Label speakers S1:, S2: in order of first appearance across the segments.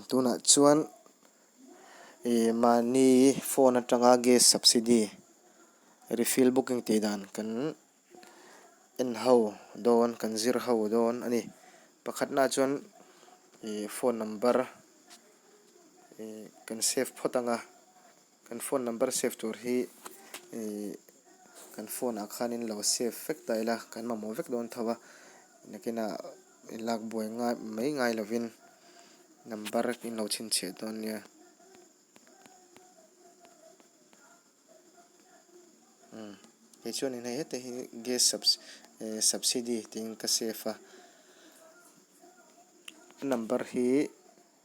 S1: Tunah chuan ih mahni phone atanga gas subsidy refill booking tih dan kan en ho dawn kan zir ho dawn a ni. Pakhat na chuan ih phone number ih kan save phawt ang a. Kan phone number save tur hi ih kan phone ah khanin lo save vek ta ila kan mamawh vek dawn tho a nakina lak buai ngai mai ngai lovin number in lo chhinchhiah dawn nia umm kei chuan eng hei hete hi gas sub eh subsidy tiin ka save a a number hi--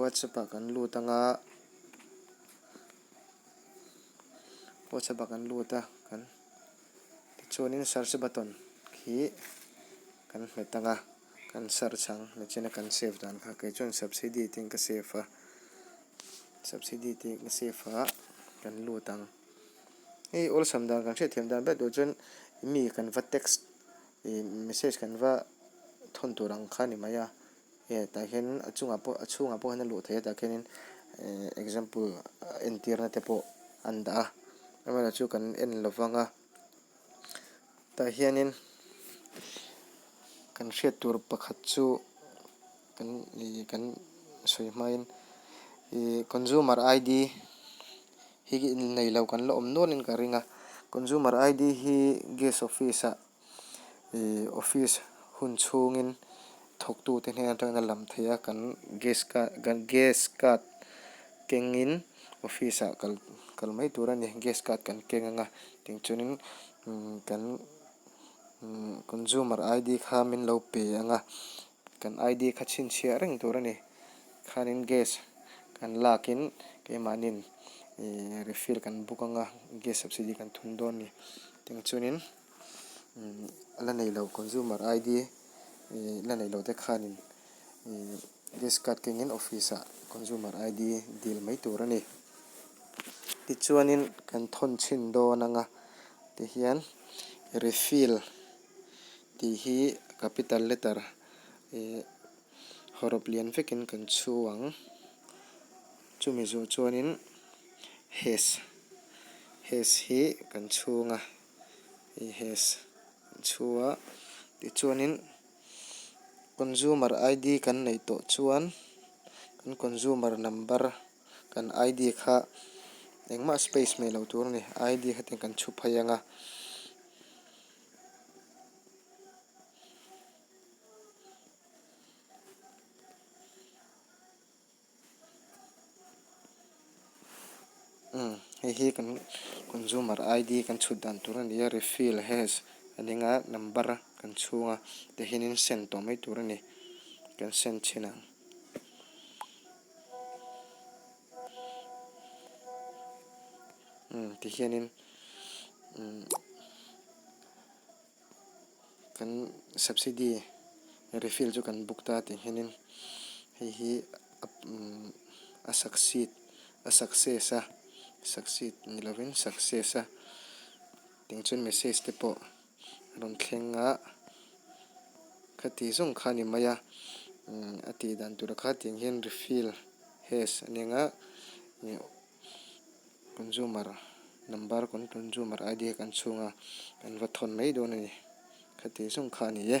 S1: Whatsapp ah kan lut anga Whatsapp ah kan lut a kan tichuanin search button khi kan hmet anga kan search ang nichina kan save dan kha kei chuan subsidy tiin ka save a subsidy tiin ka save a kan lut ang hei awlsam dan kan hriatthiam dan ber tur chuan mi kan va text ih message kan va thawn tur ang kha a ni mai a. Hei tah hian a chungah pawh a chhungah pawh hian a luh theih a tah khianin eh example entirna te pawh an dah a erawh chu kan en lo vang a tah hianin kan hriat tur pakhat chu kan ih kan sawi hmain ih consumer ID hi nei lo kan la awm nualin ka ring a consumer ID hi gas office ah ih office hun chhungin thawktute hnen atangin a lam thei a, kan gas card kan gas card kengin office ah kal kal mai tur a ni, gas card kan keng anga tichuanin umm kan umm consumer ID kha min lo pe anga kan ID kha chhinchhiah reng tur a ni khanin gas kan lakin keimahnin ih refill kan buk anga gas subsidy kan thun dawn a ni tichuanin-- la nei lo consumer ID la nei lo te khanin discard kengin office ah consumer ID dil mai tur a ni. Tichuanin kan thawn chhin dawn anga tihian refill tih hi capital letter ih hawrawp lian vekin kan chhuang chumi zawh chuanin hes hes hi kan chhung a. he has chhua tichuanin consumer ID kan neih tawh chuan kan consumer number kan ID kha engmah space hmeh loh tur a ni ID kha tiang kan chhu phei ang a. umm hei hi kan consumer id kan chhut dan tur a ni a refill hash a ning a number a kan chhung a tihin in send tawh mai tur a ni kan send chin ang. Kan subsidy refill chu kan book ta tih nghenin hei hi a succeed a success a succeed ni lovin success a tih chuan message te pawh a rawn thleng a khati zawng kha a ni mai a a tih dan tura kha tih ang hian refill has a ni ang a. Consumer number consumer ID a kan chhung a kan va thawn mai dawn a ni kha tih zung kha a ni e.